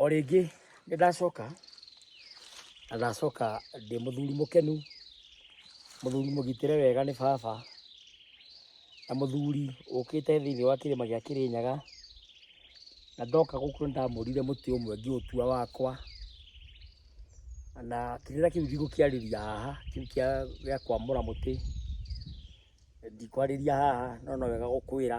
o rĩngĩ nĩ ndacoka na ndacoka ndĩ mũthuri mũkenu mũthuri mũgitĩre wega nĩ baba na mũthuri ũkĩte thĩinĩ wa kĩrĩma gĩa kĩrĩnyaga na ndoka gũkũ nĩ ndamũrire mũtĩ ũmwe ngĩũtua wakwa na kĩrĩra kĩu ndigũkĩarĩria haha kĩu kĩa gĩa kwamũra mũtĩ ndikwarĩria haha no no wega gũkwĩra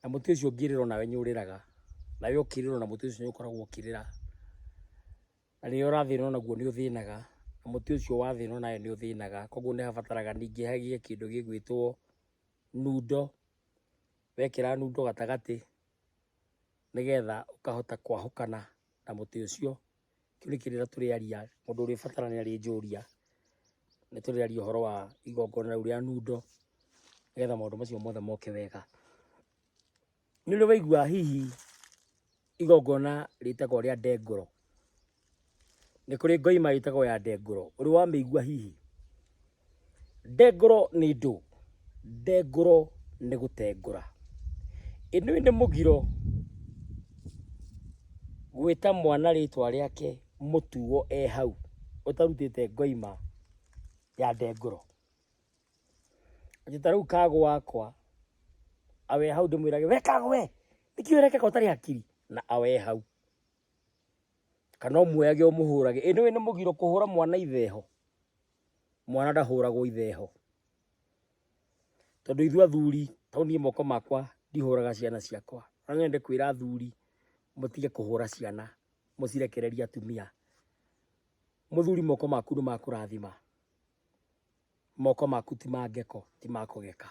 Na mũtĩ ũcio ũngĩrĩrwo nawe nĩ ũrĩraga, nawe ũkĩrĩrwo na mũtĩ ũcio nĩ ũkoragwo ũkĩrĩra. Na rĩrĩa ũrathĩnwo naguo nĩ ũthĩnaga, na mũtĩ ũcio wathĩnwo nawe nĩ ũthĩnaga. Koguo nĩ habataraga ningĩ hagĩe kĩndũ gĩgwĩtwo nundo, wekĩra nundo gatagatĩ nĩgetha ũkahota kwahũkana na mũtĩ ũcio. tũrĩkĩrĩra tũrĩaria mũndũ ũrĩ batara nĩ arĩ njũria nĩ tũrĩaria ũhoro wa igongona rĩu rĩa nundo nĩgetha maũndũ macio mothe moke wega nĩ ũrĩ waigua hihi igongona rĩtagwo rĩa ndengũro nĩ kũrĩ ngoima ĩtagwo ya ndengũro ũrĩ wamĩigua hihi Ndengũro nĩ ndũ. Ndengũro nĩ gũtengũra. Ĩnũyũ nĩ mũgiro gwĩta mwana rĩtwa rĩake mũtuo e hau ũtarutĩte ngoima ya ndengũro. Atĩ ta rĩu kago wakwa awe hau ndĩmwĩrage we kago we nĩkĩ ũrekeka ũtarĩ hakiri na awe hau. Kana ũmuoyage ũmũhũrage. Ĩnũyũ nĩ mũgiro kũhũra mwana itheho. mwana ndahũragwo itheho tondå ithuä athuri tau niä moko makwa ndihåraga ciana ciakwa na no nyende kwä ra athuri må tige kå hå ra ciana må cirekererie atumia må thuri moko maku nä makå rathima moko maku ti ma ngeko ti ma kå geka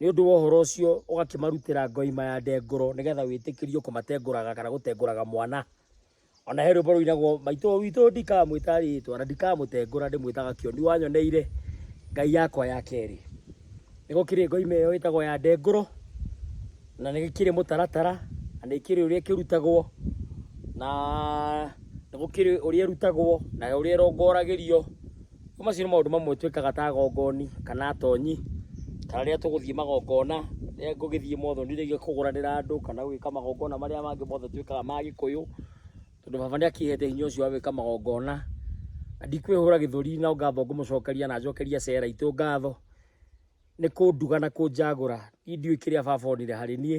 nĩ ũndũ wa ũhoro ũcio ũgakĩmarutĩra ngoima ya ndengũro nĩgetha wĩtĩkĩrio kũmatengũraga kana gũtengũraga mwana ona he rwĩmbo rũinagwo maitũ witũ ndikamwĩta rĩtwa na ndikamũtengũra ndĩmwĩtaga kĩoni wanyoneire ngai yakwa ya kerĩ nĩ gũkĩrĩ ngoima ĩyo ĩtagwo ya ndengũro na nĩ gĩkĩrĩ mũtaratara na nĩ kĩrĩ ũrĩa kĩrutagwo na nĩ gũkĩrĩ ũrĩa ĩrutagwo na ũrĩa ĩrongoragĩrio Macio nĩ maũndũ mamwe twĩkaga ta agongoni kana atonyi, kana rĩrĩa tũgũthiĩ magongona, rĩrĩa ngũgĩthiĩ mothoni rĩngĩ kũgũranĩra andũ kana gwĩka magongona marĩa mangĩ mothe twĩkaga ma gĩkũyũ, tondũ baba nĩ akĩhete hinya ũcio wa gwĩka magongona. Na ndikwĩhũra gĩthũri no ngatho ngũmũcokeria na njokerie Sarah aitũ ngatho, nĩ kũnduga na kũnjagũra. Niĩ ndiũĩ kĩrĩa baba onire harĩ niĩ.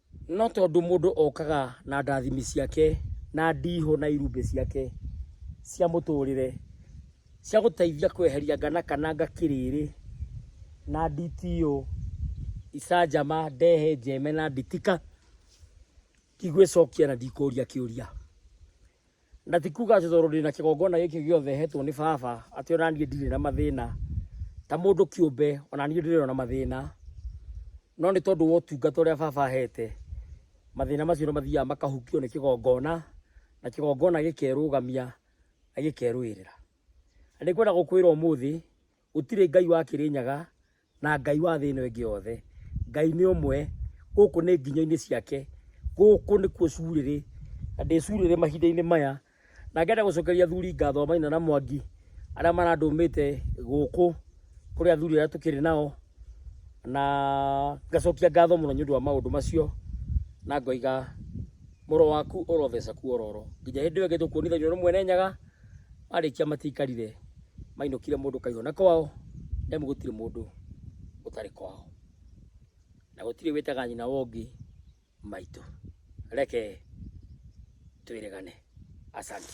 No tondũ mũndũ okaga na ndathimi ciake na ndihũ na irumbĩ ciake cia mũtũrĩre cia gũteithia kweheria ngana kana ngakĩrĩrĩ na nditio, icanjama, ndehe, njeme na nditika, ndigwĩcokia na ndikũria kĩũria. na ti kuga atĩ tondũ ndĩna kĩgongona gĩkĩ gĩothe hetwo nĩ baba atĩ ona niĩ ndirĩ na mathĩna ta mũndũ kĩũmbe ona niĩ ndirĩ na mathĩna no nĩ tondũ wa ũtungata ũrĩa baba ahete mathĩna macio nĩ mathiaga makahukio nĩ kĩgongona na kĩgongona gĩkerũgamia na gĩkerũĩrĩra na nĩ kwenda gũkwĩra ũmũthĩ gũtirĩ ngai wa kĩrĩnyaga na Ngai wa thĩ ĩno ĩngĩ yothe. Ngai nĩ ũmwe, gũkũ nĩ nginya-inĩ ciake, gũkũ nĩkuo curĩrĩ, na ndĩ curĩrĩ mahinda-inĩ maya, na ngenda gũcokeria athuri ngatho maina na mwangi arĩa marandũmĩte gũkũ kũrĩ athuri arĩa tũkĩrĩ nao, na ngacokia ngatho mũno nĩ ũndũ wa maũndũ macio, na ngoiga mũro waku ũrotheca kuororo nginya hĩndĩ ĩyo ĩngĩ tũkuonithania ũrĩ mwene nyaga Marĩkia matiikarire, mainũkire mũndũ kaihũna kwao, nĩ amu gũtirĩ mũndũ ũtarĩ kwao, na gũtirĩ wĩtaga nyina wa ũngĩ maitũ. Reke twĩrĩgane. Asante.